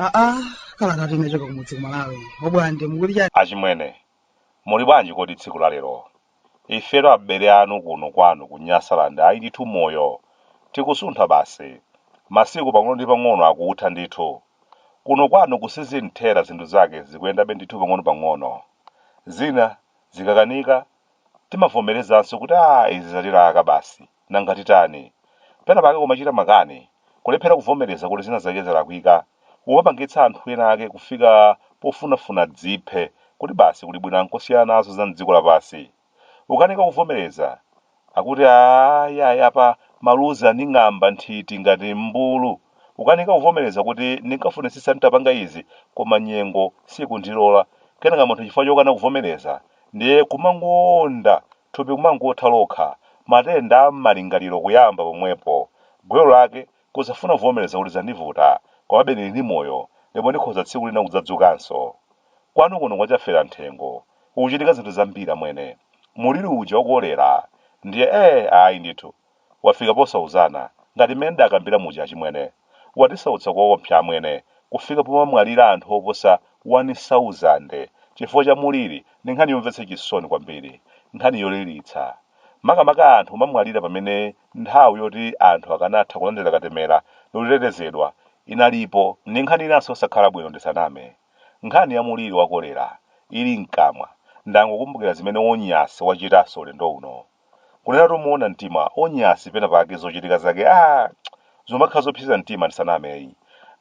aa kalata inachoka kumudzi ku Malawi obwande mukuti chani achimwene muli bwanji kodi tsiku la lero Ifetu abele anu kuno kwanu ku Nyasaland ayi ndithu moyo tikusuntha basi masiku pang'ono ndi pang'ono akutha ndithu. Kuno kwanu ku Sizinthera zinthu zake zikuyendabe ndithu pang'ono pang'ono. Zina zikakanika timavomelezanso kuti aah izi zatilaka basi. Nanga titani? Pena pake kumachita makani, kulephera kuvomereza kuti zina zake zalakwika, kumapangitsa anthu ena ake kufika pofunafuna adziphe kuti basi kuli bwino angosiyana nazo za m'dziko lapansi. Ukanika kuvomereza, akuti aah yayi apa maluzi anding'amba nthiti ngati mmbulu. Ukanika kuvomereza kuti ndinkafunitsitsa nditapanga izi koma nyengo sikundilola, kenaka munthu chifukwa chokana kuvomereza ndiye kumangoonda thupi kumangotha lokha, matenda a m'malingaliro kuyamba pomwepo, gwero lake, kusafuna kuvomereza kuti zandivuta, komabe ndili ndi moyo, ndipo ndikhoza tsiku lina kudzadzukanso. Kwanu kuno kwa Chaferamthengo kukuchitika zinthu zambiri amwene. Muliri uja wa kolera ndiye ee ayi ndithu. Wafika posauzana, ngati mmene ndakambila muja achimwene. Watisautsa koopsa amwene, kufika pomamwalira anthu oposa wani sauzande chifukwa cha muliri ndi nkhani yomvetsa chisoni kwambiri, nkhani yolilitsa. Makamaka anthu kumamwalira pamene nthawi yoti anthu akanatha kulandira katemera ndi kutetezedwa inalipo. Ndi nkhani inanso yosakhala bwino ndisaname. Nkhani ya muliri wa kolera ili mkamwa, ndangokumbukira zimene Onyasi wachitanso ulendo uno. Kunenatu moona mtima Onyasi pena pake zochitika zake aah zumakhala zopseza mtima ndisaname ayi.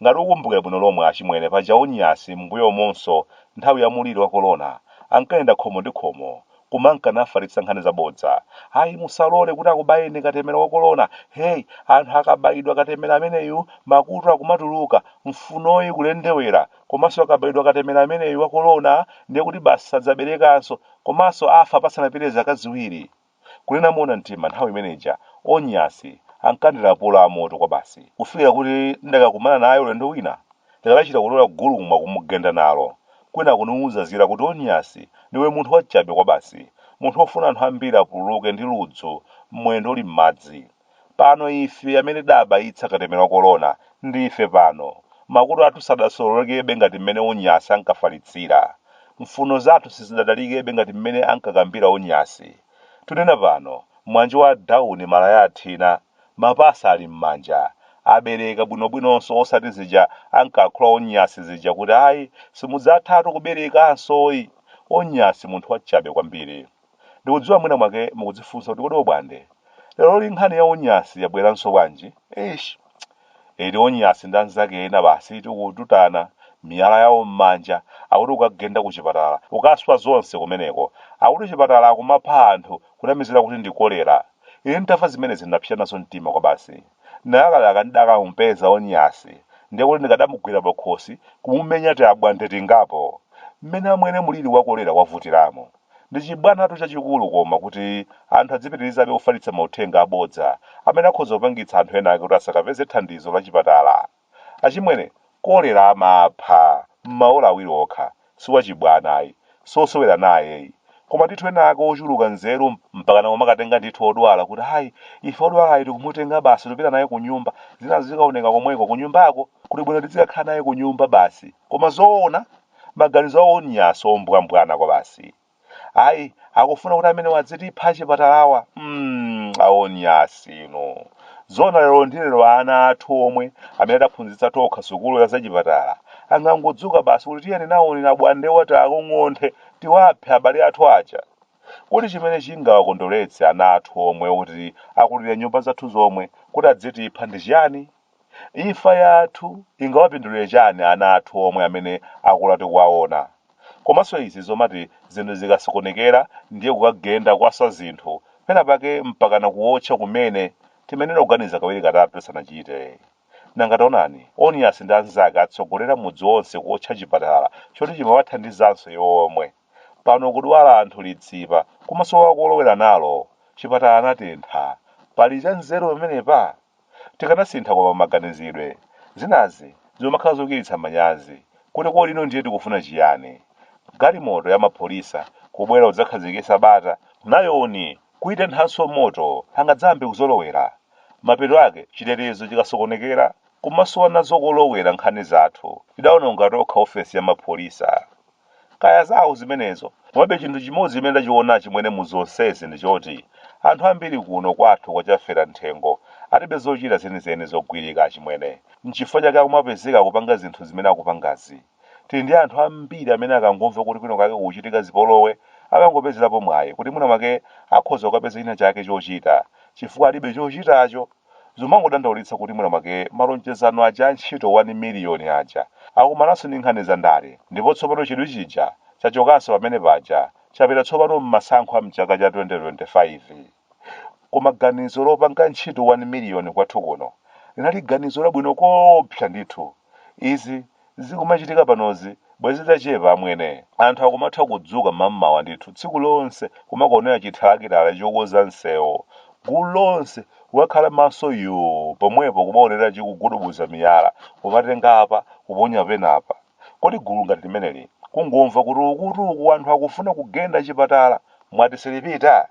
Ngati ukumbukira bwino lomwe achimwene paja Onyasi m'mbuyomonso nthawi ya mulili wa kolona ankayenda khomo ndi khomo kumanka nafalitsa nkhani za bodza ayi musalole kuti akubayeni katemera wa kolona hey anthu akabayidwa katemera ameneyu makutu akumatuluka mfunoyi kulendewera Komanso akabayidwa katemera ameneyu wa corona ndiye kuti basi sadzaberekanso komanso afa pasanapite zaka ziwiri. Kunena moona mtima nthawi imene ija Onyasi ankandilapula amoto kwabasi kufikira kuti ndakakumana naye ulendo wina ndikadachita kutola gulumwa kumugenda nalo kwinaku ndikuzazira kuti Onyasi ndiwe munthu wachabe kwabasi, munthu ofuna anthu ambiri apululuke ndi ludzu mwendo uli m'madzi. Pano ife amene tidabayitsa katemera wa korona ndife pano. Makutu athu sadasololekebe ngati mmene Onyasi ankafalitsira. Mfuno zathu sizidatalikebe ngati mmene ankakambira Onyasi. Tunena pano, mwanje wa dawuni malaya athina, mapasa ali mmanja, abereka bwinobwinonso osati zija ankakhula Onyasi zija kuti ayi simudzathatu kuberekansoyi! Onyasi munthu wachabe kwambiri. Ndikudziwa mwina mwake mukudzifunsa kuti kodi obwande leroli nkhani ya onyasi yabweranso bwanji? Eish! Eti onyasi ndi anzake ena basi eti kututana miyala yawo m'manja akuti ukagenda kuchipatala ukaswa zonse kumeneko. Akuti chipatala akumapha anthu kunamizira kuti ndi kolera. Ine nditamva zimenezi ndinapsya nazo mtima kwabasi. Ndinalakalaka ndidakamupeza onyasi ndiye kuti ndikadamugwira pakhosi kumumenya tiabwande tingapo. Mmene amwene mliri wa kolera wavutiramu! Ndi chibwanatu chachikulu koma kuti anthu adzipitirizabe kufalitsa mauthenga abodza amene akhoza kupangitsa anthu enaake kuti asakapeze thandizo lachipatala. Achimwene, kolera amapha m'maola awiri okha. Si wachibwana ayi. Si wosewera naye ayi. Koma ndithu enaake ochuluka nzeru mpakana kumakatenga ndithu odwala kuti ayi, ife wodwalayu tikumutenga basi tupita naye kunyumba, zinazo zikaoneka komweko, kunyumbako, kuli bwino tidzikakhala naye kunyumba basi. Koma zoona? maganizo awo onyasi ombwambwana kwabasi ayi akufuna kuti amenewa adzitipha achipatalawa mm, aonyasi inu zona lero ndi lero ana athu omwe amene tidaphunzitsa tokha sukulu ya zachipatala angangodzuka basi kuti tiyeni naonera bwande wati akung'onthe tiwaphe abale athu aja kodi chimene chingawakondoletse ana athu omwe kuti akulira m' nyumba zathu zomwe kuti adzitipha ndi chiyani Imfa yathu ingawapindulire chani ana athu omwe amene akula tikuwaona? Komanso izi zomati zinthu zikasokonekera ndiye kukagenda kukaswa zinthu, pena pake mpakana kuotcha kumene, timayenera kuganiza kawiri katatu tisanachite. Nanga taonani Onyasi ndi anzake atsogolera mudzi onse kuotcha chipatala choti chimawathandizanso iwo omwe. Pano kudwala anthu litsipa kumasowa kolowera nalo, chipatala anatentha. Pali chanzeru pamenepa? tikanasintha koma maganizidwe, zinazi zimakhala zochititsa manyazi kuti kodi ino ndiye tikufuna chiyani? Galimoto ya mapholisa kubwera kudzakhazikitsa bata nayonso kuitenthanso moto angadzayambe kuzolowera? Mapeto ake chitetezo chikasokonekera kumasowa nazo kolowera nkhani zathu tidaononga tokha ofesi ya mapholisa. Kaya zawo zimenezo. Komabe chinthu chimodzi chimene ndachiona achimwene mu zonsezi ndi choti anthu ambiri kuno kwathu kwa Chafera Mthengo alibe zochita zenizeni zogwirika achimwene. N'chifukwa chake akumapezeka akupanga zinthu zimene akupangazi. Tili ndi anthu ambiri amene akangomva kuti kwina kwake kukuchitika zipolowe amangopezerapo mwayi kuti mwina mwake akhoza kukapeza china chake chochita chifukwa alibe chochitacho. Zomangodandaulitsa kuti mwina mwake malonjezano aja a ntchito wani miliyoni aja akumananso ndi nkhani za ndale ndipo tsopano chidwi chija chachokanso pamene paja chapita tsopano mmasankho a mchaka cha 2025. Koma ganizo lopanga ntchito wani miliyoni kwathu kuno linali ganizo labwino koopsa ndithu. Izi. zikumachitika panozi bwezi zachepa amwene. Anthu akumatha kudzuka mam'mawa ndithu tsiku lonse kumakaonera chithalakitala chokonza msewo gulu lonse kukakhala maso yoo pomwepo kumaonera chikugudubuza miyala kumatenga apa kuponya penapa. Kodi gulu ngati limeneli kungomva kuti ukuti uku anthu akufuna kugenda chipatala mwati silipita?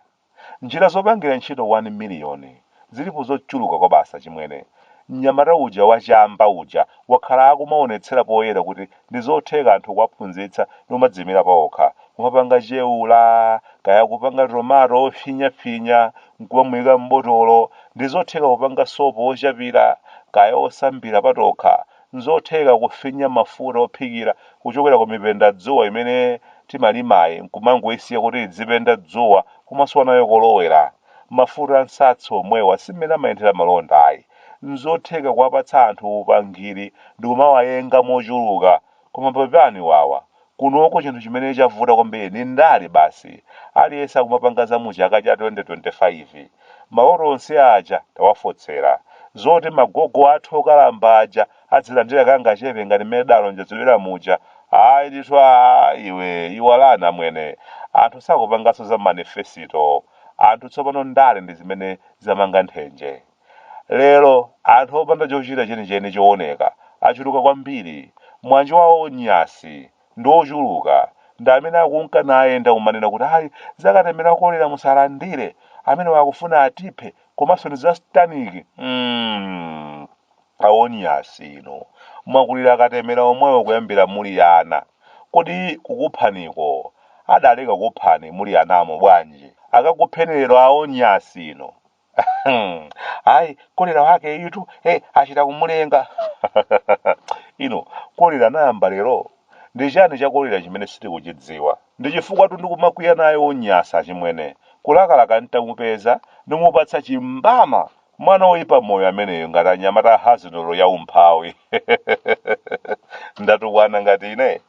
Njira zopangira ntchito wani miliyoni zilipo zochuluka kwabasi achimwene. Mnyamata uja wa chamba uja wakhala akumaonetsera poyera kuti ndizotheka anthu kuwaphunzitsa ndikumadziyimira paokha. Kumapanga chewula, kaya kupanga tomato ofinya finya nkumamuika m'botolo, ndizotheka kupanga sopo ochapira, kaya osambira patokha, N'zotheka kufinya mafuta ophikira kuchokera ku mipendadzuwa imene timalimayi n'kumangoisiya kuti idzipenda dzuwa kumasowa nayo kolowera. Mafuta a nsatsi omwewa si mmene amayendera malonda ayi. N'zotheka kuwapatsa anthu upangiri ndi kumawayenga mochuluka. Koma pepani wawa, Kunoko chinthu chimene chavuta kwambiri ni ndale basi. Aliyense akumapanga za mu chaka cha 2025. Maloto onse aja tawafotsera. Zoti magogo athu okalamba aja adzilandira kangachepe ngati mmene idalonjezedwera muja, ayi ndithu aa iwe iwalani amwene. Anthu sakupanganso za manifesito. Anthu tsopano ndale ndi zimene zamanga nthenje. Lero, anthu opanda chochita chenicheni chowoneka achuluka kwambiri. Mwa njira a Onyasi ndi ochuluka ndi amene akunka nayenda kumanena kuti ayi za katemera wa kolera musalandire, amenewo akufuna atiphe komanso ndi za satanic. Hmm, a Onyasi inu, mwakulira akatemera omwewo kuyambira muli ana. Kodi kukuphaniko adaleka kukuphani muli anamo bwanji? Akakupheni lero a Onyasi inu! ayi kolera wake uti hey, achita kumulenga inu kolera anayamba lero ndi chani cha kolera chimene sitikuchidziwa ndi chifukwatu ndikumakwiya naye Onyasi achimwene kulakalaka ntamupeza ndimupatsa chimbama mwana woyipa moyo ameneyo ngati anyamata a haziwelo wa umphawi ndatukwana ngati ine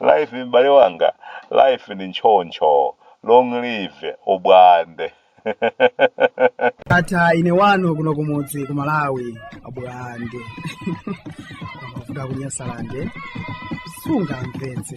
life m'bale wanga life ndi nchoncho long live ubwande ata ine wano kuno kumudzi ku malawi abwande amavuta kunyasalande sungamvetse